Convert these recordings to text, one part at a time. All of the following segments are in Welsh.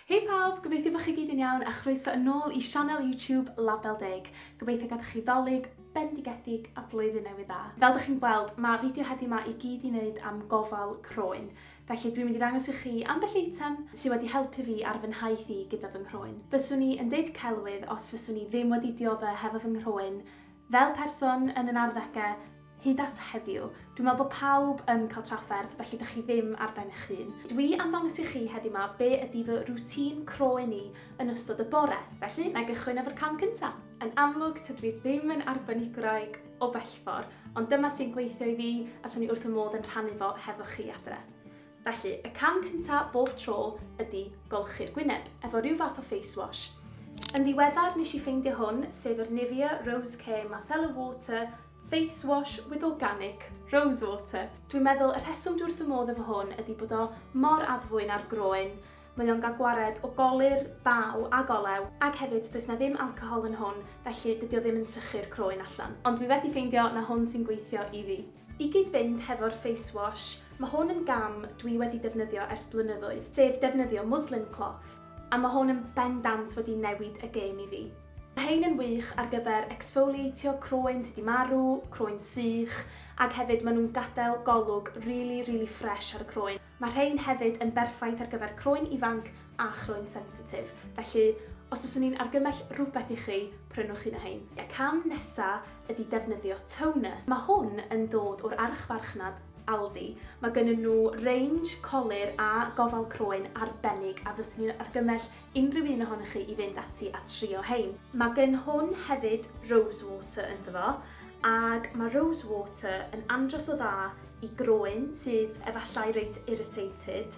Hei pawb, gobeithio bod chi gyd yn iawn a chroeso yn ôl i sianel YouTube Label Deg. Gobeithio gadwch chi Ddolig bendigedig a Blwyddyn Newydd Dda. Fel dych chi'n gweld, mae fideo heddiw ma i gyd i wneud am gofal croen. Felly dwi'n mynd i ddangos i chi ambell eitem sy wedi helpu fi ar fy nhaith i gyda fy nghroen. Fyswn i yn deud celwydd os fyswn i ddim wedi diodde hefo fy nghroen fel person yn yn arddege, Hyd at heddiw, dwi'n meddwl bod pawb yn cael trafferth, felly dych chi ddim ar ben eich hun. Dwi am ddangos i chi heddiw 'ma be ydy fy rwtîn croen i yn ystod y bore, felly na i gychwyn efo'r cam cyntaf. Yn amlwg, tydw i ddim yn arbenigwraig o bellfor, ond dyma sy'n gweithio i fi a 'swn i wrth fy modd yn rhannu fo hefo chi adre. Felly, y cam cyntaf bob tro ydy golchi'r gwyneb, efo rhyw fath o face wash. Yn ddiweddar nes i ffeindio hwn, sef yr Nivea Rose Care Micellar Water Face wash with organic rose water. Dwi'n meddwl y rheswm dwi wrth fy modd efo hwn ydi bod o mor addfwyn ar groen, mae o'n gael gwared o golir, baw ag olew, ag hefyd does 'na ddim alcohol yn hwn felly dydi o ddim yn sychu'r croen allan. Ond dwi wedi ffeindio na hwn sy'n gweithio i fi. I gyd-fynd hefo'r face wash, ma' hwn yn gam dwi wedi defnyddio ers blynyddoedd, sef defnyddio muslin cloth, a ma' hwn yn bendant wedi newid y gêm i fi. Mae rhein yn wych ar gyfer exfoliatio croen sy 'di marw, croen sych, ac hefyd maen nhw'n gadael golwg rili, rili ffresh ar y croen. Mae rhein hefyd yn berffaith ar gyfer croen ifanc a chroen sensitif, felly os fyswn i'n argymell rhywbeth i chi, prynwch un o rhein. Y cam nesa ydi defnyddio toner. Mae hwn yn dod o'r archfarchnad Aldi. Mae gennyn nhw range colur a gofal croen arbennig a fyswn i'n argymell unrhyw un ohonoch chi i fynd ati a trio hein. Mae gen hwn hefyd rose water ynddo fo, ag mae rose water yn andros o dda i groen sydd efallai reit irritated,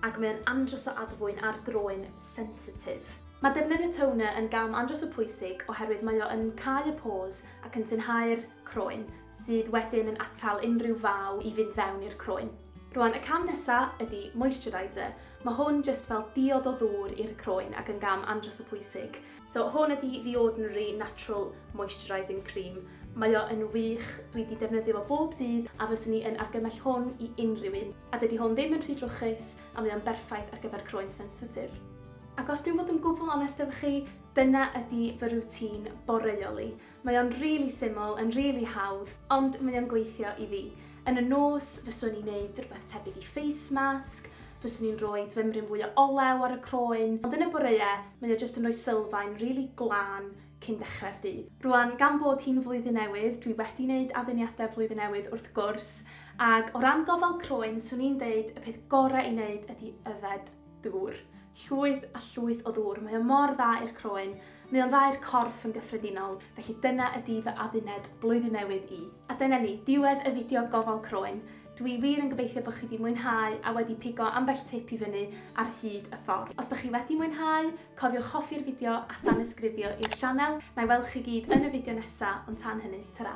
ag mae o'n andros o addfwyn ar groen sensitif. Mae defnyddio toner yn gam andros o pwysig oherwydd mae o yn cau y pores ac yn tynhau'r croen, sydd wedyn yn atal unrhyw faw i fynd fewn i'r croen. Rwan y cam nesa ydi moisturiser. Ma' hwn jyst fel diod o ddŵr i'r croen ac yn gam andros o pwysig. So hwn ydi The Ordinary Natural Moisturising Cream. Mae o yn wych, dwi 'di defnyddio fo bob dydd a fyswn i yn argymell hwn i unrhyw un. A dydi hwn ddim yn rhy drwchus a mae o'n berffaith ar gyfer croen sensitif. Ac os dwi'n bod yn gwbl onest efo chi, dyna ydi fy routine boreol i. Mae o'n rili syml, yn rili hawdd, ond mae o'n gweithio i fi. Yn y nos, fyswn i'n neud rwbeth tebyg i face mask, fyswn i'n roid fymryn fwy o olew ar y croen, ond yn y boreau, mae o jyst yn rhoi sylfaen rili glân cyn dechrau'r dydd. Rŵan, gan bod hi'n Flwyddyn Newydd, dwi wedi neud adduniadau Blwyddyn Newydd wrth gwrs, ag o ran gofal croen, swn i'n deud y peth gorau i neud ydi yfed Dŵr. Llwyth a llwyth o ddŵr. Mae o mor dda i'r croen. Mae o'n dda i'r corff yn gyffredinol. Felly dyna ydi fy adduned Blwyddyn Newydd i. A dyna ni, diwedd y fideo gofal croen. Dw i wir yn gobeithio bod chi 'di mwynhau a wedi pigo ambell tip i fyny ar hyd y ffordd. Os dach chi wedi mwynhau, cofiwch hoffi'r fideo a thanysgrifio i'r sianel. Na'i weld chi gyd yn y fideo nesa, ond tan hynny, tara!